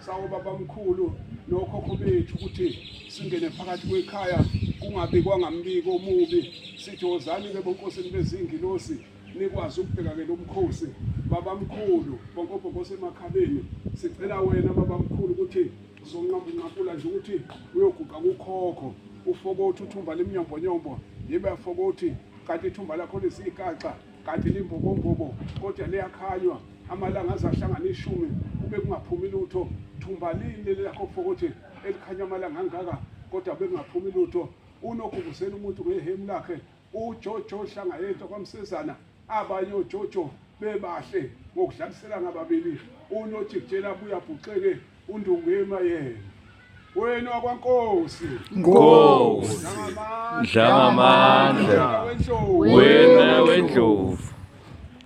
Sawo babamkhulu nokhokho bethu ukuthi singene phakathi kwekhaya kungabikwa ngambiko omubi sithi wozani ke bonkosini bezingilosi nikwazi ukubheka ke lomkhosi babamkhulu bonkobhokose emakhaleni sicela wena babamkhulu ukuthi zonqambunqakula nje ukuthi uyoguqa kukhokho ufokothi uthumba lemnyombonyombo yibe afokothi kanti ithumba lakho lisiyikaxa kanti limbobombobo kodwa liyakhanywa amalanga aze ahlangane ishumi kube kungaphumi lutho thumba lini leli lakho fokothi elikhanya amalanga angaka kodwa bekungaphumi lutho unogubuzela umuntu ngehemu lakhe ujojo hlanga yento kwamsezana abanye ojojo bebahle ngokudlaliselana ababili unojikjela buyabhuxeke undungema yena wenu wakwankosi Nkosi Dlangamandla wena wendlovu